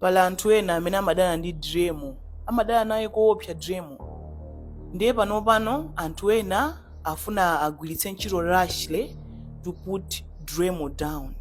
pali anthu ena amene amadana ndi Driemo amadana naye koopsa Driemo ndiye pano pano anthu ena afuna agwiritse ntchito Rashley to put Driemo down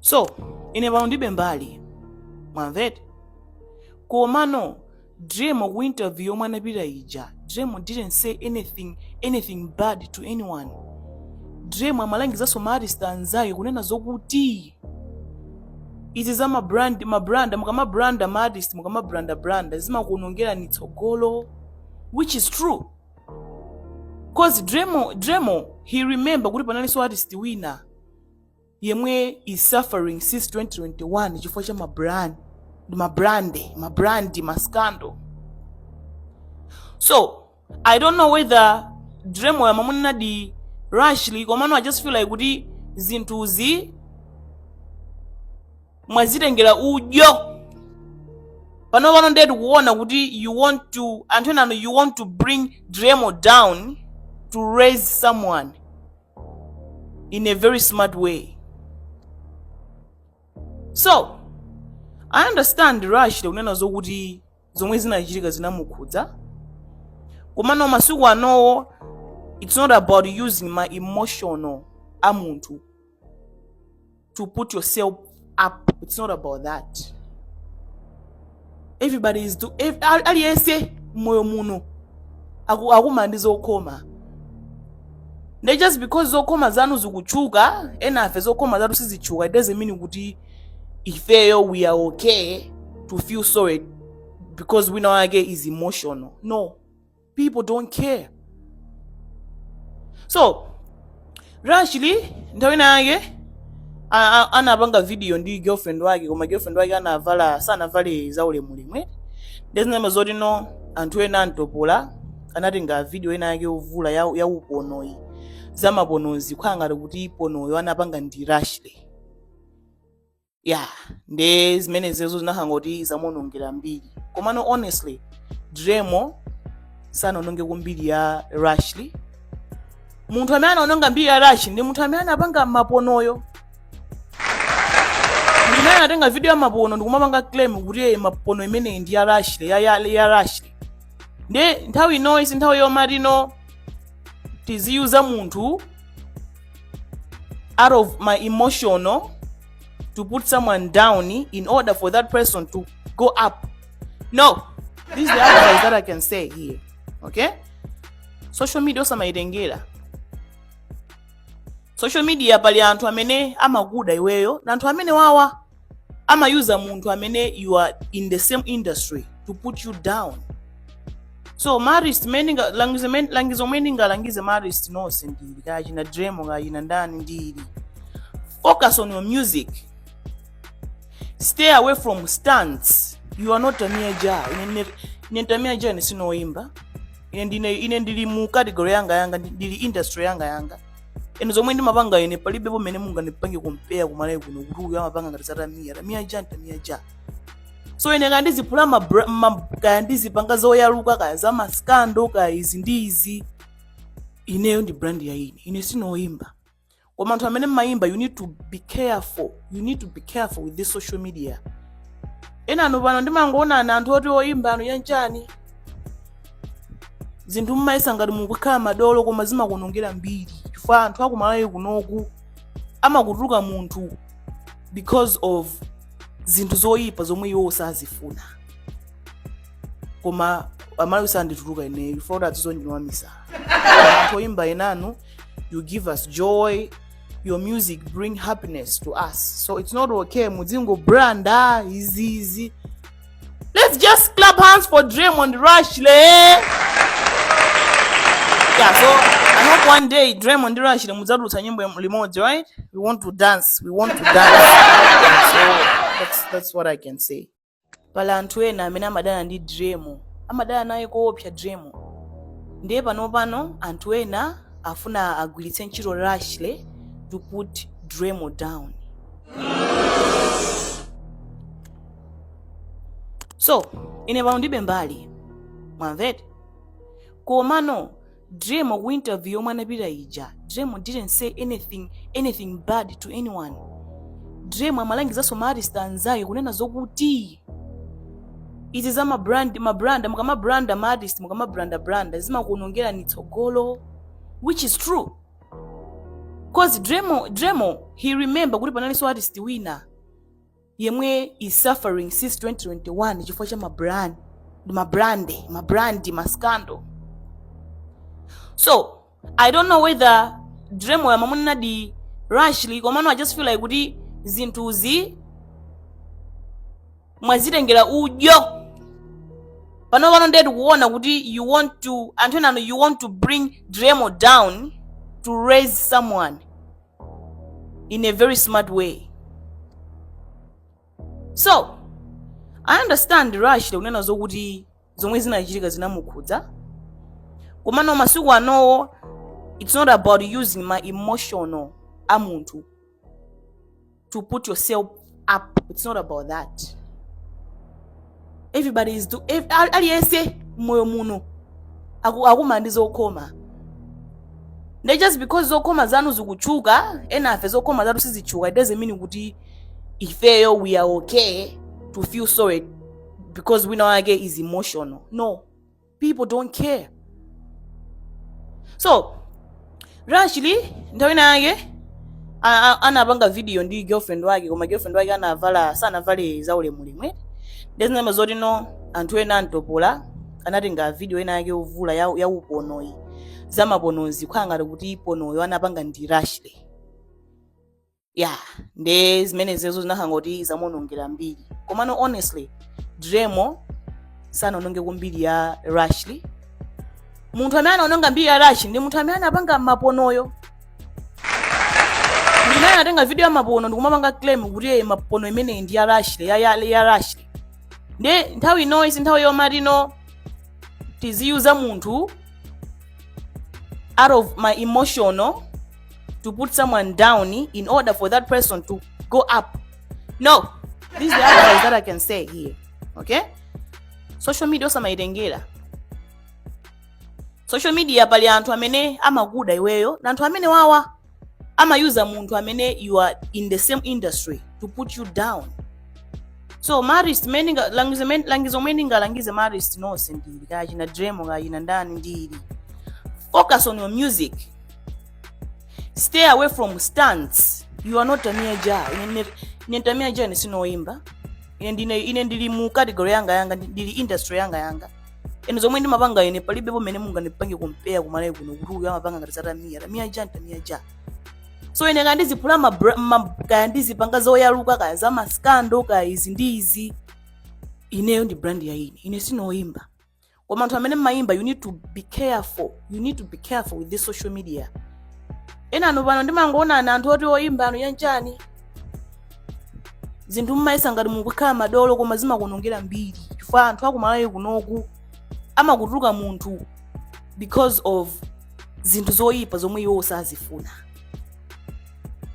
so ine pano ndibe mbali mwamvete komano Driemo ku interview yomwe anapita ija Driemo didn't say anything anything bad to anyone Driemo amalangizanso ma artist anzake kunena zokuti izi za ma brand ma brand mukama branda ma artist mukama branda branda zimakuonongerani tsogolo which is true cause Driemo Driemo he remember kuti panalinso artist wina yemwe is suffering since 2021 chifukwa cha mabrand mabrand mabrand mascando so i don't know whether Driemo yemwe amanenadi Rashley komano i just feel like kuti zinthuzi mwazitengera udyo pano pano ndiye tikuona kuti you want to anthu enano you want to bring Driemo down to raise someone in a very smart way. So, I understand Rush kunena zokuti zomwe zinachitika zinamukhudza. Komano masiku anowo it's not about using ma emotional a munthu to put yourself up it's not about that everybody is do aliyense moyo muno akumana ndi zokhoma nde just because zokhoma zanu zikutchuka enafe zokhoma zathu sizitchuka it doesn't mean kuti ifeyo we are okay to feel sorry because wina wake is emotional no people don't care so Rashley nthawi ina yake a- a- anapanga video ndi girlfriend wake koma girlfriend wake anavala sanavale zaulemulemu eti ndezinama zoti no anthu ena antopola anatenga video ina yake yovula ya, ya uponoyi zamaponozi kukhala ngati kuti ponoyo anapanga ndi Rashley ya nde zimenezozo zinakhala ngati zamuonongera mbiri komano honestly Driemo sanaononge ko mbiri ya Rashley munthu amene anaononga mbiri ya Rashley ndi munthu amene anapanga maponoyo ndimene anatenga video ya mapono ndikumapanga claim kuti "Eh, mapono imeneyi ndi ya Rashley ya, ya, ya Rashley nde nthawi inoyi si nthawi yomatino tiziyuza munthu out of my emotional to put someone down in order for that person to go up. No, this is the advice that I can say here. Okay? Social media osamaitengera. Social media pali anthu amene amakuda iweyo na anthu amene wawa amayuza munthu amene you are in the same industry to put you down so maartist mene nga- langizo men- langizo mene ndingalangize maartist nonse ndili kaya achina driemo kaya achina ndani ndili focus on your music stay away from stunts you are not tamia ja ine ndine- ine ndi tamia ja ine sinoyimba ine ndine ine ndili mu category yanga yanga ndi- ndili industry yanga yanga nde zomwe ndimapanga ine palibe pomwe mungandipange compare kumalawi kuno kuti uyu amapanga ngati za tamia tamia ja tamia ja so ine kaya ndiziphula ma bra- ma- kaya ndizipanga zoyaluka kaya za maskando kaya izi ndi izi ineyo ndi brand ya ine ine sinoyimba koma anthu amene mmayimba you need to be careful you need to be careful with this social media enanu pano ndimangokuonani anthu oti oyimba inu zanchani zinthu mmayesa ngati mukukhala madolo koma zimakuonongera mbiri chifukwa anthu akumalawi kunoku amakutuluka munthu because of zinthu zoyipa zomwe iwo sazifuna koma amalawi sandituluka ineyo chifukwa kuti adandizolowera misala anthu oyimba enanu you give us joy your music bring happiness to us so it's not okay mudzingo branda izi izi Let's just clap hands for Draymond Rushley. Yeah, so I hope one day Draymond Rushley mudzadutsa nyimbo yam- limodzi, right? We want to dance. We want to dance. so that's that's what I can say. Pala anthu ena amene amadana ndi Dremo, amadana naye koopsa Dremo. Ndiye pano pano anthu ena afuna agwiritse ntchito Rushley to put Dremo down. so ine pano ndilibe mbali mwamvete komano driemo ku interview yomwe anapita ija driemo didn't say anything anything bad to anyone driemo amalangizanso maartist anzake kunena zokuti izi za mabrand mabranda mukamabranda maartist mukamabranda branda zimakuonongerani tsogolo which is true cause driemo driemo he remember kuti panalinso artist wina yemwe is suffering since 2021 chifukwa cha mabrand mabrande mabrandi maskando so i don't know whether driemoyo amamunenadi rashley komano i just feel like kuti zinthuzi mwazitengera udyo pano pano ndiye tikuona kuti you want to anthu enanu you want to bring driemo down to raise someone in a very smart way so i understand rashley kunena zokuti zomwe zinachitika zinamukhudza komano masiku anowo it's not about using ma emotional a munthu to put yourself up it's not about that everybody is do aliyense moyo muno akukumana ndi zokhoma nde just because zokhoma zanu zikutchuka enafe zokhoma zathu sizitchuka it doesn't mean kuti ifeyo we are okay to feel sorry because wina wake is emotional no people don't care so rashly nthawi inayake anapanga video ndi girlfriend wake koma girlfriend wake anavala sanavale zaulemulemwe nde zinamva zoti no anthu ena antopola anatenga video ena yake yovula ya uponoyi zamaponozi kukhala ngati kuti iponoyo anapanga ndi rashly ya nde zimenezezo zinakhala ngati zamuonongera mbiri komano honestly dremo sanaononge kumbiri ya rashly munthu amene anaononga mbiri ya rashly ndi munthu amene anapanga maponoyo ndimene anatenga video ya mapono ndikumapanga claim kuti "Eh, mapono imeneyi ndi ya rashly ya, ya, ya rashly nde nthawi ino si nthawi yomatino tiziyuza munthu out of my emotional to put someone down in order for that person to go up. No, this is the advice that I can say here. Okay? Social media osamaitengera. Social media pali anthu amene amakuda iweyo na anthu amene wawa amayuza munthu amene you are in the same industry to put you down. So ma artist langizo lomwe ndingalangize ma artist nonse ndi ili kaya china dremo kaya china ndani ndi ili. Focus on your music. stay away from stunts you are not tamia ja Ine tamia ja ine si ndine oyimba ine ndili mu category yanga yanga ndi- ndili industry yanga yanga ene zomwe ndimapanga ine palibe pomene mungandipange compare kumalawi kuno kuti uyu amapanga ngati zatamia tamia ja tamia ja so ine kaya ndizivula kaya ndizipanga zoyaluka kaya za maskando kaya izi ndi izi ineyo ndi brand ya ine ine si ndine oyimba koma anthu amene mmayimba you need to be careful you need to be careful with this social media enanu pano ndimangokuonani anthu oti oyimba inu chanichani zinthu mmayesa ngati mukukhala madolo koma zimakuonongera mbiri chifukwa anthu akumalawi kunoku amakutuluka munthu because of zinthu zoyipa zomwe iwo sazifuna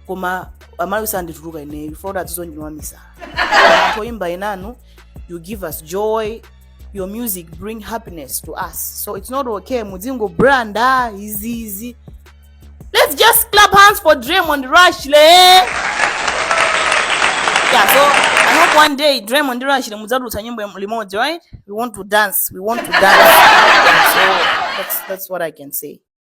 koma amalawi sandituluka ineyo chifukwa kuti atizolowera ndiwamisala anthu oyimba enanu you give us joy your music bring happiness to us so it's not okay mudzingo brand ah izi izi let's just clap hands for Draymond Rush le yeah so i hope one day Draymond Rush le mudzadutsa nyimbo yam- limodzi right we want to dance we want to dance so that's that's what i can say